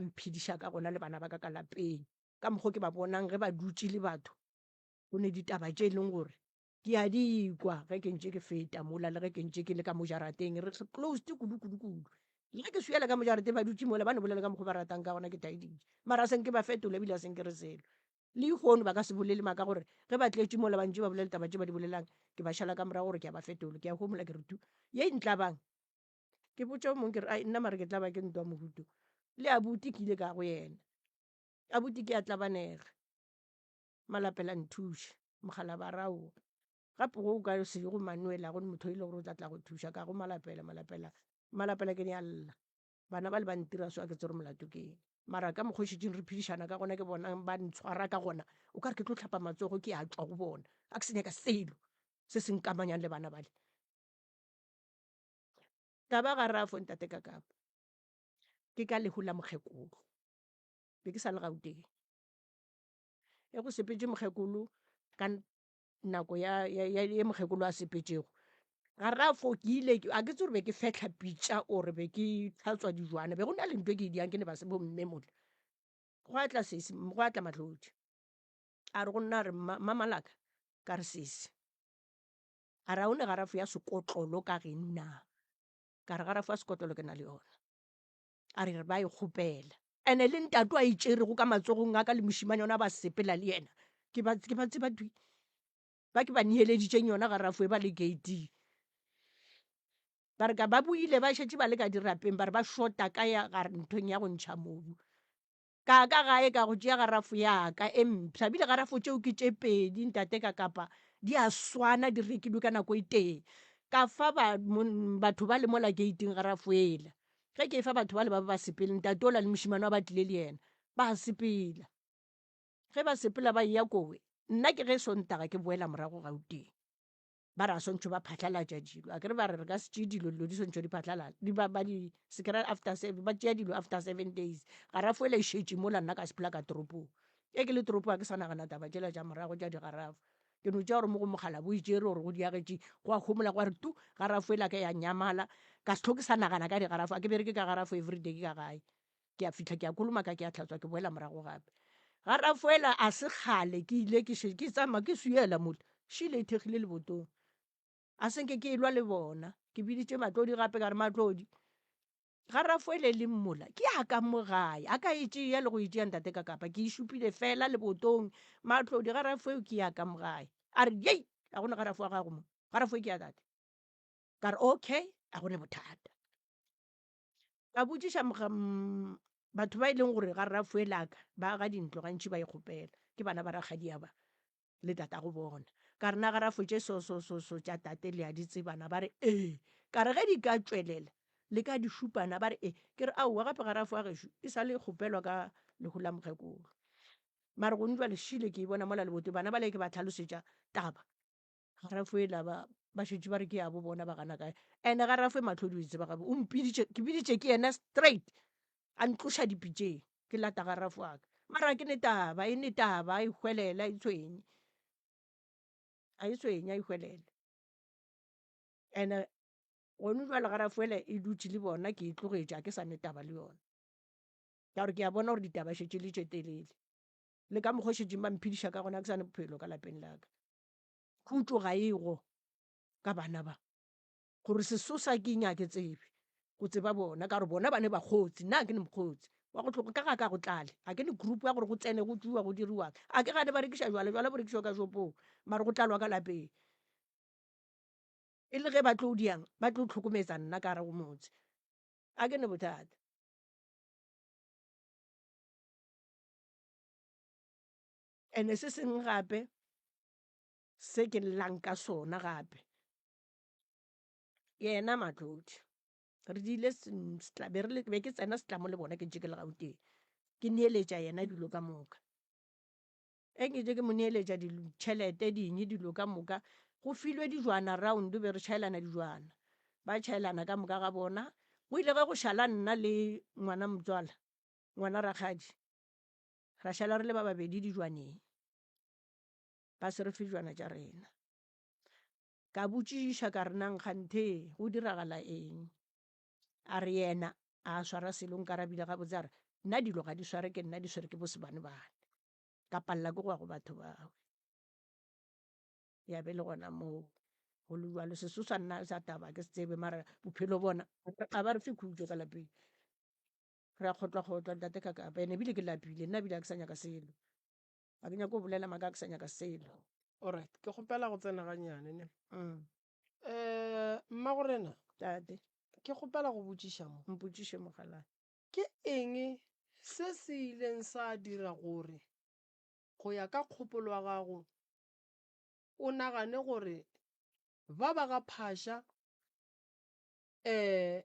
mphediša ka gona le bana ba ka ka lapeng, ka mokgwa o ke ba bonang ge ba dutše le batho, go ne ditaba tše e leng gore ke a di kwa ge ke ntše ke feta mola le ge ke ntše ke le ka mo jarateng re closed kudu-kudu-kudu. Le ge ke suyela ka mo jarateng ba dutše mola ba no bolela ka mokgwa o ba ratang ka gona ke taeditše, mara a se nke ba fetola ebile a se nke re selo. Lehono ba ka se bolele maka gore ge ba tletše mola ba ntše ba bolela ditaba tše ba di bolelang ke ba šala ka morago gore ke a ba fetola, ke a homola ke re tu, ye e ntlabang? ke botša o mongwe ke re ai nna mare ke tla ba ke ntwa mohuto le abuti ke ile ka go yena abuti ke a tlabanega malapela nthuše mogala ba raowa gape go o ka se ye go manuela go motho e le gore o tla tla go thuša ka go malapela malapela malapela ke ne a lla bana ba le ba ntira so a ke tsere molato ke eng mara ka mokgošetšing re phedišana ka gona ke bona ba ntshwara ka gona o ka re ke tlo tlhapa matsogo ke a tswa go bona a ke se nyaka selo se se nkamanyang le bana bale ka ba gare a fo ntate ka kapo ke ka lehu la mokgekolo be ke sa le Gauteng e go sepetse mokgekolo ka nako ya mokgekolo a sepetšego ga re a fo ke ile a ke itse gore be ke fetlha pitša or be ke tlhatswa dijwana be go na le ntho e ke diang ke ne ba se bo mme mole gwa tla sesi gwa tla matlodi a re go nna a re mmamalaka ka re sesi A ra o ne garafo ya sekotlolo ka geng na? Ka re, Garafo ya sekotlolo ke na le yona. A re, Re ba e kgopela. Ene le ntato a e tšerego ka matsogong a ka le mošimane ona ba sepela le yena, ke ba ke ba tseba twi ba ke ba neeleditšeng yona garafo e ba le gating. Ba re ka ba boile ba šetše ba le ka dirapeng ba re ba šota ka ya nthong ya go ntšha mobu. ka ka gae ka go tšea garafo yaka e mpsha bile garafo tšeo ke tše pedi ntate ka kapa di a swana di rekilwe ka nako e tee ka fa ba batho ba le mola gating garafo ela ge ke e fa batho ba le ba ba sepele ntate ola le mošimane wa ba tlile le yena ba sepela ge ba sepela ba eya kowe nna ke ge e sontaga ke boela morago gauteng ba re a swantšho ba phatlalatša dilo a kere ba re re ka se tšee dilo dilo di swantšho di phatlalala di ba ba di se kry after seven ba tšea dilo after seven days ga ra fole e šetše mola nna ka se phela ka toropong ge ke le toropong ga ke sa nagana taba tšela tša morago tša digarafo ke no tšea gore mo go mogala bo e tšere gore go diagetše gwa homola gwa re tu garafo e la ka ya nyamala ka se tlhoke sa nagana ka digarafo a ke bereke ka garafo everyday ke ka gae ke a fitlha ke a kolomaka ke a tlhatswa ke boela morago gape ga rafoela a se kgale ke ile ke ke tsamaya ke suyela mole šile e thekgile lebotong a senke ke elwa le bona ke biditše matlodi gape ka re matlodi ga rafoele le mmola ke a ka mo gae a ka e tšea le go e tšea ntate ka kapa ke e šupile fela lebotong matlodi ga rafoeo ke ya ka mo gae a re yei a gone ga rafo wa gago mo ga rafoe ke ya tate ka re okay a gone bothata ka botšiša batho ba e leng gore ga rafuelaka ba aga dintlo gantši ba ikgopela e ke bana ba rakgadia ba le tata go bona ka rena ga rafo tše so so so so tša tate le a di tsebana ba re ee ka re ge di ka tšwelela le ka di šupana ba re ee ke re aowa gape ga rafo a gešo e sa le kgopelwa ka lehu la mokgekolo mare gone jwa lešile ke e bona mola lebote bana ba le ke ba tlhalosetša taba ga rafoe la ba ba šetše ba re ke yabo bona ba gana kae ande ga rafoe matlhodi o itse ba gabe o mpiditše ke biditše ke yena straight a ntloša dipitseng ke lata ga rafo aka mara ke ne taba e ne taba a ihwelela e tshwenye a e tshwenye a ihwelela ande gone jwale ga rafoela e dutše le bona ke e tlogetše a ke sa ne taba le yona ka gore ke a bona gore ditaba šetše le tše telele le ka mokgwa o šetšeng ba mphediša ka gona ke sane bophelo ka lapeng laka Khutšo ga e go ka bana ba, gore sesosa ke nyake tsebe, go tseba bona, ka gore bona ba ne bakgotsi, nna ke ne mokgotsi wa go tlhogo, ka ga ka go tlale, ga ke ne group ya gore go tsene go tšuwa go diriwang, a ke gane ba rekiša jwala, jwala bo rekišwa ka shopong, mare go tlalwa ka lapeng, e le ge ba tlo diang ba tlo tlhokometsa nna ka gare go motse, a ke ne bothata. ene se sengwe gape se ke llang ka sona gape yena matlodi re dile be re be ke tsena setlamo le bona ke ntse ke le gauteng ke neeletša yena dilo ka moka e ke ntse ke mo neeletša ditšhelete ding dilo ka moka go filwe dijwana round be re chaelana dijwana ba chaelana ka moka ga bona go ile ge go šala nna le ngwana motswala ngwana rakgadi Ra šala re le ba babedi dijwaneng, ba se re fe dijwana tša rena. Ka botšišiša ka re nang kganthe go diragala eng? A re yena a swara selo nkarabile gabotse a re nna dilo ga di sware ke nna di swere ke bosebanebane ka palela ke go ya go batho bawe ya be le gona moo go le jalo seso sa nna sa taba ke se tsebe mara bophelo bona ga ba re fe khutšo ka lapeng Re a kgotlwa-kgotlwa, Ntate ka kapa. Ene ebile ke lapile. Nna ebile ga ke sa nyaka selo. Ga ke nyake go bolela maaka, ga ke sa nyaka selo. Alright, ke kgopela go tsena gannyane ne. Umm. Eeh, Mmagorena. Tate. Ke kgopela go botšiša mo. Mpotšiše, mogalaa. Ke eng se se ileng sa dira gore, go ya ka kgopolo ya gago, o nagane gore ba ba ga Phasha, eeh,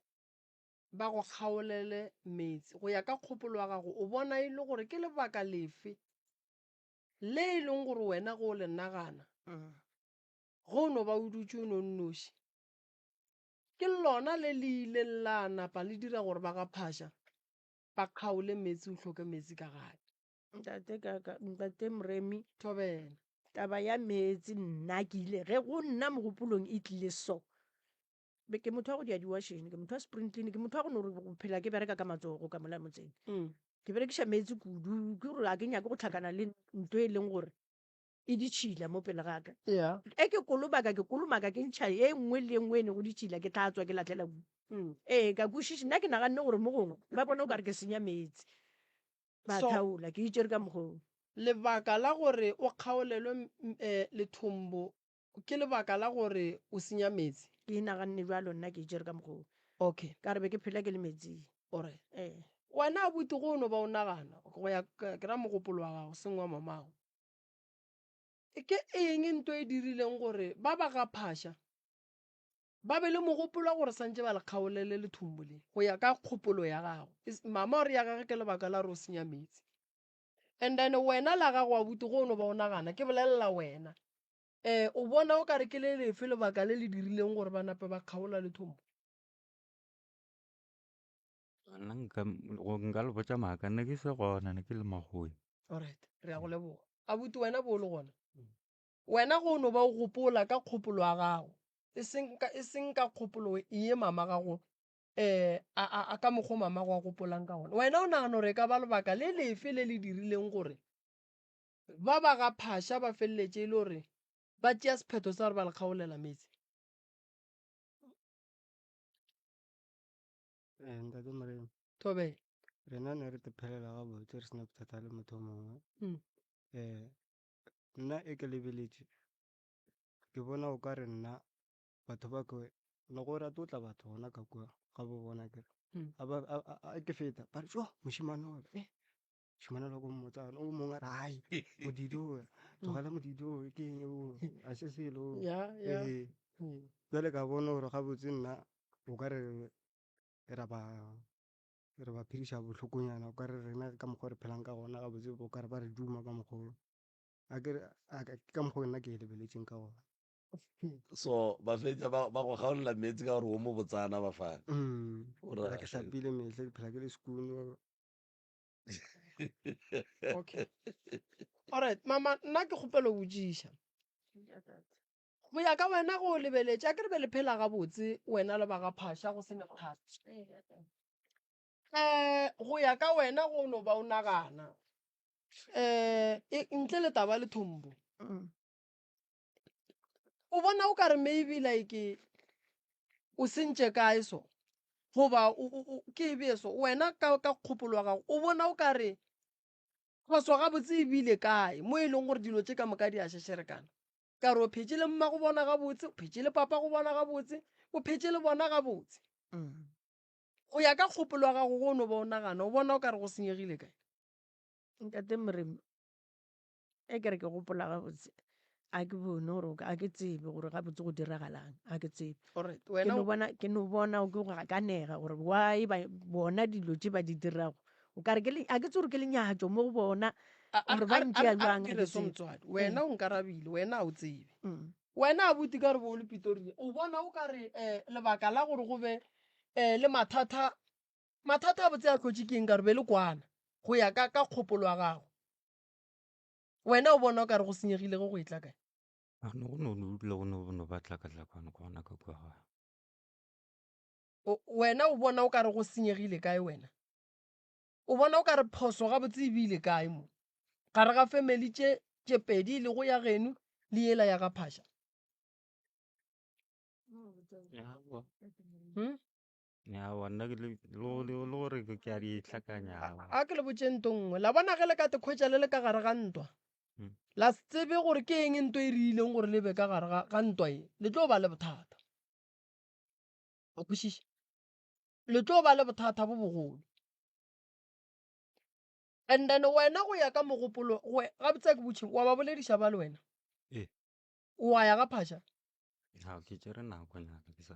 ba go kgaolele meetse. Go ya ka kgopolo ya gago, o bona e le gore ke lebaka lefe le e leng gore wena ge o le nagana, ge o no ba o dutše o nonnoši, ke lona le le ileng la napa le dira gore ba ga Phasha ba kgaole meetse, o hloke meetse ka gae? Ntate Kaka, Ntate Moremi, Thobela. Taba ya meetse nna ke ile, ge go nna mogopolong e tlile so, Be ke motho wa go dia diwašene ke motho wa sprintlene ke motho wa go no go phela ke bereka ka matsogo ka mola motseng mm. ke berekiša meetse kudu ke gore a ke nyake go tlhakana le nto e leng gore e ditšhila mo pele gaka yeah. e ke kolobaka ke kolomaka ke ntšha e nngwe le e nngwe e ne go ditšhila ke tla tswa ke latlhela ku mm. ee ka kwešiši nna ke naganne gore mo gongwe ba bone o ka re ke senya meetse ba so, thaola ke itšere ka mokgong lebaka la gore o kgaolelwe um, eh, lethombo Ke lebaka la gore o senya meetse? Ke inaganne bjalo, nna ke itšere ka mokgwa wo. Okay. Ka re be ke phela ke le meetsing. Alright. Ee. Wena abuti go no ba o nagana, okay, go ya ka, ke ra mogopolo wa gago, seng wa mamago, ke eng nto e dirileng gore ba ba ga Phasha ba be le mogopolo wa gore santše ba le kgaolele lethombo le, go ya ka kgopolo ya gago? Is, mama o re ya gage ke lebaka la gore o senya meetse? and then wena la gago abuti go o no ba o nagana ke bolelela wena um o bona o ka re ke le lefe lebaka le le dirileng gore ba nape ba kgaola le thombo nna nka go- nka le botša maaka nna ke se gona ne ke le magoe alright re ya go leboga abuti wena bo o le gona wena go o no ba o gopola ka kgopolo ya gago e seng ka- e seng ka kgopolo ye mama gago Eh, a, a, a ka mokgwa mama go a gopolang ka gona. Wena o nagana gore e ka ba lebaka le lefe le le dirileng gore ba ba ga phasha ba feleletše e le gore ba tšea sephetho sa gore ba le kgaolela metse? Eh, ntate Morena, Thobela. rena ne re tephelela gabotse re sena bothata le motho o mongwe Mm. eh nna e ke lebeletše ke bona o ka re nna batho ba ko le go rata o tla batho gona ka kwa ga bo bona kere mm. a ba a ke feta ba re jo moshimane wa eh moshimane wa go mmotsa o mongwe ra hai modidi o tlogela modidi o ke eng o a se se lo ya ya eh. mm. jale ka bona gore ga botse nna o ka re ra ba re ba phirisa bohlokonyana o ka re rena ka mokgwa re phelang ka gona ga botse o ka re ba re duma ka mokgwa a ke ka mokgwa nna ke lebeletseng ka gona so ba fetsa ba go gaolela meetse ka gore wo mo botsana ba fana mm. ke tlapile metlhe ke phela ke le sekune okay alright mama nna ke kgopelo botsiša go ya ka wena go lebeletša ke re be le phela gabotse wena le ba ga phasha go sene bothata um eh, go ya ka wena go no ba o nagana um ntle le taba le thombo mm. o bona o ka re maybe like o sentše kae so goba ke e bee so wena ka kgopolo wa gago o bona o ka re phoso gabotse e bile kae mo e leng gore dilo tše ka moka di a šešerekana ka re o phetse le mma go bona gabotse o phetse le papa go bona gabotse o phetse le bona gabotse mm. go ya ka kgopolo wa gago go no ba o nagana o bona o ka re go senyegile kae ntate moremi Ge ke re ke gopola gabotse, ga ke bone gore ga ke tsebe gore gabotse go diragalang, ga ke tsebe. Alright, Ke wena no o- bona, ke no bona o ke go gakanega gore why ba bona dilo tše ba di dirago. O kare ke le, ga ke tsebe gore ke lenyatšo mo go bona. a- a- gore ba a- a- ntšea a- a- bjang, ke ha ke re so tsebe. motswadi wena o nkarabile wena ga o tsebe Mm. wena abuti ka re bo o le pitoria o bona o ka re um lebaka la gore go be um le mathata mathata a botse a tlotše ke eng ka re be le kwana go ya ka ka kgopolo ya gago wena o bona o ka re go senyegile go go etla kae a no go no dula go no no ba tlakatlakwane go gona ka kwa ga O- wena o bona o ka re go senyegile kae wena o bona o ka re phoso gabotse e bile kae mo gare ga family tše tše pedi e lego ya geno le yela ya ga phasha Hmm? ya wanna ke le lo- lo- lo gore ke ke a di tlhakanya awa. a ke le botseng nto nngwe la bona ge le ka tekhwetša le le ka gare ga ntwa Mm. la se tsebe gore ke eng nto e riileng gore le be ka gare ga- ga ntwa e le tlo ba le bothata a kwešiša le tlo ba le bothata bo bogolo and then wena go ya ka mogopolo we- gabotse ke botšheng wa ba bolediša ba le wena Ee. wa ya ga phasha Ha, ke tšere nako nyana ke sa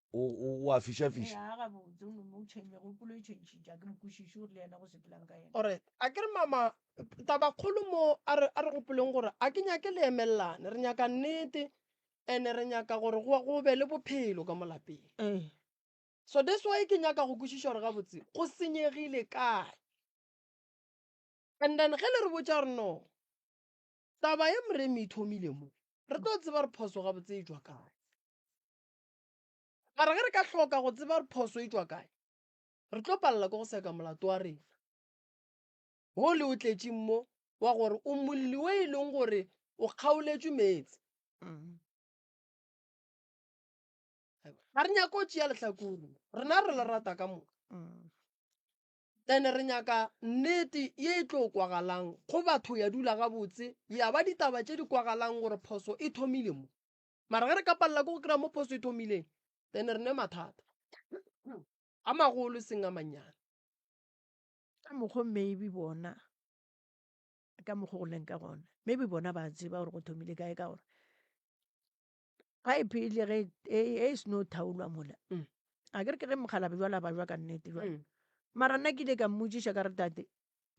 O, o, o a fišafiša. Ee, a gabotse, o nomotšhe megopolo e tšhentšhitša. A ke mokwešiši gore le yena go sepelang ka yena. Alright, a ke re mama, tabakgolo mo, a re, a re gopoleng gore a ke nyake le emelelane. Re nyaka nnete, and re nyaka gore go, go be le bophelo ka mo lapeng. Ee. So that's why ke nyaka go kwešiša gore gabotse go senyegile kae. And then ge le re botša gore no, taba ye Moremi e thomile mo, re tlo tseba gore phoso gabotse e tšwa kae. Mara ge re ka hloka go tseba gore phoso e tšwa kae, re tlo palela ke go seka molato wa rena wo le o tletšeng mo wa gore o molli wo e leng gore o kgaoletšwe meetse. Ga re nyake go tšea lehlakore, rena re le rata ka moka. Ene re nyaka nnete ye e tlo kwagalang go batho ya dula gabotse, ya ba ditaba tše di kwagalang gore phoso e thomile mo. mara ge re ka palela ke go kry-a mo phoso e thomileng then re ne mathata a magolo e seng a mannyane ka mokgwa maybe bona ka mokgwa go leng ka gona maybe bona ba tseba gore go thomile kae ka gore pipe e le ge e, e seno thaolwa mola mm. a ke re ke ge mokgalabe jwale ba jwa ka nnete jwale mm. mara nna ke ile ka mmotsiša ka re tate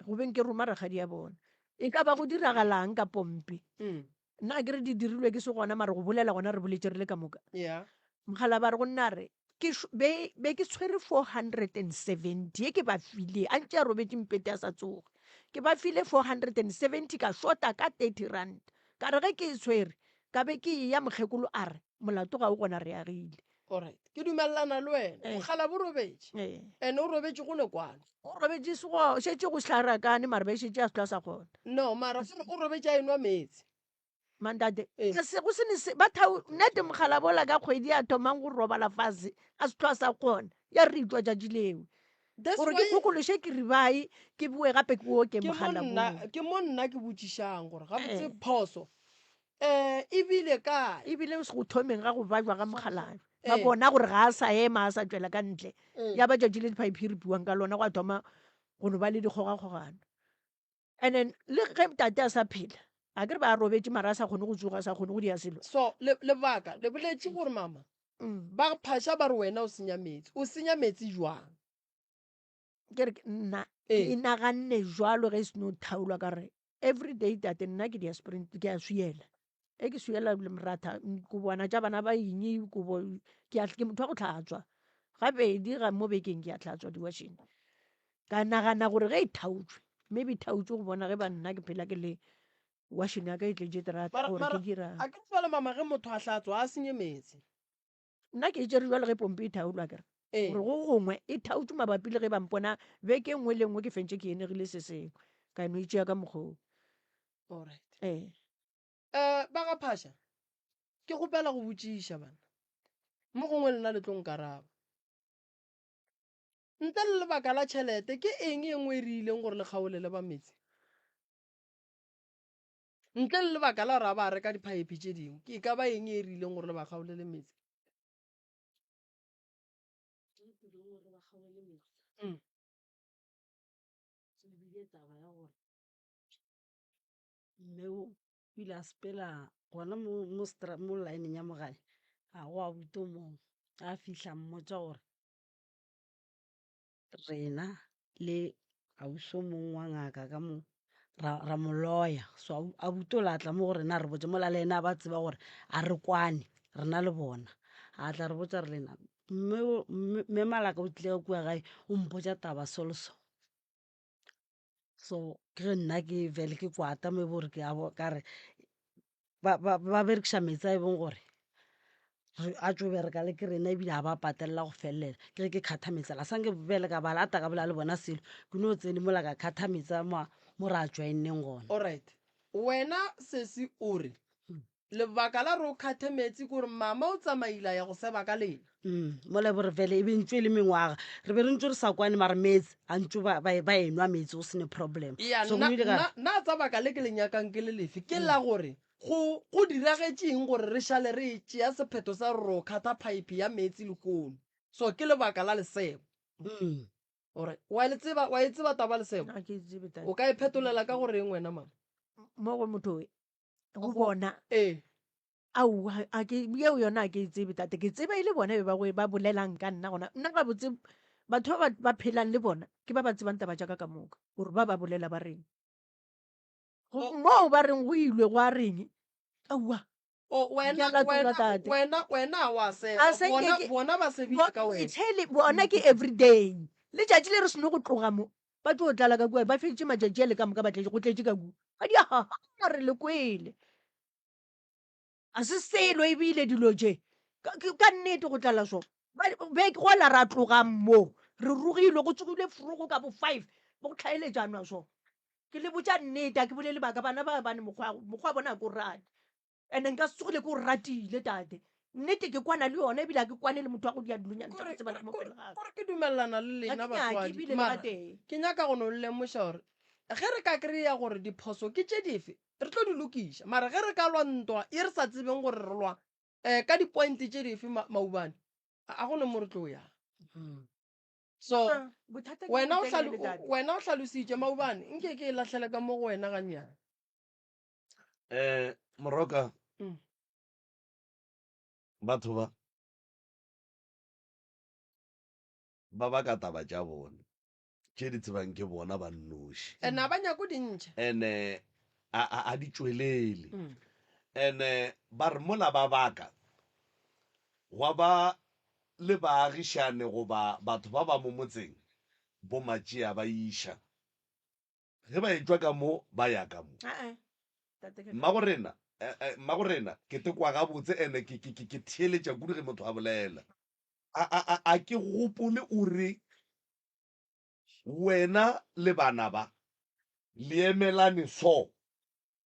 go beng ke roma rakgadi ya bona e ka ba go diragalang ka pompe mm. nna ke re di dirilwe ke se gona mare go bolela gona re boletse re le ka moka yeah. mokgalaba re go nna re be ke tshwere four hundred and seventy e ke ba file a ntse a robetse mpete a sa tsoge ke ba file four hundred and seventy ka shota ka thirty rand ka re ge ke e tshwere ka be ke e ya mokgekolo a re molato ga o gona re agile Alright, ke dumelelana le wena eh. mokgalabo o robetše eh. and o robetše go ne kwano o robetše sego šetše go sehlarakane mara ba šetše a setla sa kgona no mara gore o robetše a enwa meetse mandate eh. ka se go sene se ba thao nete mogalabola ka kgwedi ya thomang go robala fase a setlo sa kgona ya re itlwa jatši leo gore ke kgokološe ke ribae ke boe gape ke o ke mogalabola ke mo nna ke botšišang gore gabotse phoso Eh, e bile kae? E bile go thomeng ga go bajwa ga mokgalajwa. Ba eh. bona gore ga a sa ema, a sa tšwela ka ntle. Eh. Ya ba tšatši le diphaiphi re buang ka lona, go a thoma go no ba le dikgogakgogano. And then le ge tate a sa phela, a ke re ba robetše mara a sa kgone go tsoga, a sa kgone go dia selo. So, lebaka, le boletše gore mama, mm. ba phasha ba re wena o senya metsi. O senya metsi jwang? ke re ke nna ke ee. inaganne jalo ge e seno thaolwa ka re every day tate nna ke dia sprint ke a suyela e ke suyela le moratha kobana tša bana ba eng kobo ke motho wa go tlhatswa gabedi ga mo bekeng ke a tlhatswa diwasheng ka nagana gore ge e thaotswe maybe e thaotswe go bona ge ba nna ke phela ke le washing ya ka e tletse terata gore ke dirang a ke tswale mama ge motho a hlatswa a senye metsi nna ke e tšere jalo ge pompe e thaolwa kere ee. gore go gongwe e thaotse mabapi le ge ba mpona beke nngwe le nngwe ke fentse ke enegile se sengwe ka no itšea ka mokgoo alright ee um ba ga phasha ke kgopela go botšiša bana mo gongwe lena le tlong karaba ntle le lebaka la tšhelete ke eng e nngwe e re ileng gore le kgaolele ba metse Ntle le lebaka la gore a ba reka diphaephe tše dingwe, ke ka ba eng e e rileng gore le ba kgaolele metsi? Mm. ebile taba ya gore mme o pila a sepela gona mo mo stra- mo lineng ya mogae ga go a buto moo a fihla mmotsa gore rena le ausi o mongwe wa ngaka ka mo ra ra mo loya so a a butola a tla mo go rena a re botša mola le ene a ba tseba gore a re kwane re na le bona. A tla re botša a re le ena mme o mme Malaka o tlile ka kua gae o mpotša taba so le so. so ke ge nna ke fele ke kwata mo e bo gore ke abo ka re ba berekiša meetse a e bong gore a tšo bereka le ke rena ebile ga ba a patelela go felela ke ge ke kgatha meetse a la sanke fele ka ba lata ka bolela le bona selo ke no tsene mola ka kgatha meetse a mo mo re a join-neng gona Alright. Wena sesi o re Lebaka la gore o kgathe meetse ke gore mama o tsamaile a ya go seba ka lena. Mm, mo lebore vele e be ntso e le mengwaga re be re ntso re sa kwane mara meetse a ntso ba ba- ba enwa meetse go sene problem Ea, so go nna- ile ka nna- nna tsa baka le ke le nyakang ke le lefe ke la gore go go diragetšeng gore re šale re e tšea sephetho sa gore o kgatha phaephe ya meetse lekono so ke lebaka la lesebo Mm. gore wa le tseba wa e tseba taba lesebo Nna ke tsebe tata. o ka e phetolela ka goreng wena mama mo go motho go bona ee au a ke yeo yona a ke e tsebe tate ke tseba e le bona ba ba bolelang ka nna gona nna ga botse batho ba ba phelang le bona ke ba ba tsebang taba jaka ka moka gore ba ba bolela ba reng moo ba reng go ilwe go a reng aua bona ke everyday letšatši le re seno go tloga mo ba tlo tlala ka kua ba feditše matšatši a le ka moka ba tletše go tletše ka kua ga di ahaha re le kwele a se selo ebile dilo je ka nnete go tlala so beke go la ra tlogang mo re rogilwe go tsogile frogo ka bo five bo go tlhaeletšanwa so ke le botša nnete a ke bolele baka bana ba bane mokgwa bona ko rate ande nka se tsogile ke o ratile tate nnete ke kwana le yone ebile a ke kwane le motho wa go dia dilonyanekore ke dumelelana le lena batswadi ke nyaka go no lemoša gore ge re ka kry-a gore diphoso ke tše dife re tlo di lokiša mara ge re ka lwa ntwa ye re sa tsebeng gore re lwa um ka di-point tše dife maubane a go ne mo re tlo yang hmm. so ah, wena o hlalositše maubane nke ke e latlhele ka mo go wena ganyana um moroka Mm. batho ba ba baka taba tša bone tše di tsebang ke bona ba nnoši and a ba nyako dintšha ene a a- a di tšwelele Mm. ene ba re mola ba baka gwa ba le baagišane goba batho ba ba mo motseng bomatšea ba iša Ge ba etšwa ka mo, ba ya ka mo. Mmagorena, Mmagorena, ke te kwa gabotse, ene ke, ke, ke, ke theeletša kudu ge motho a bolela. A, a, a, a ke gopole o re, Wena le bana ba, le emelane so.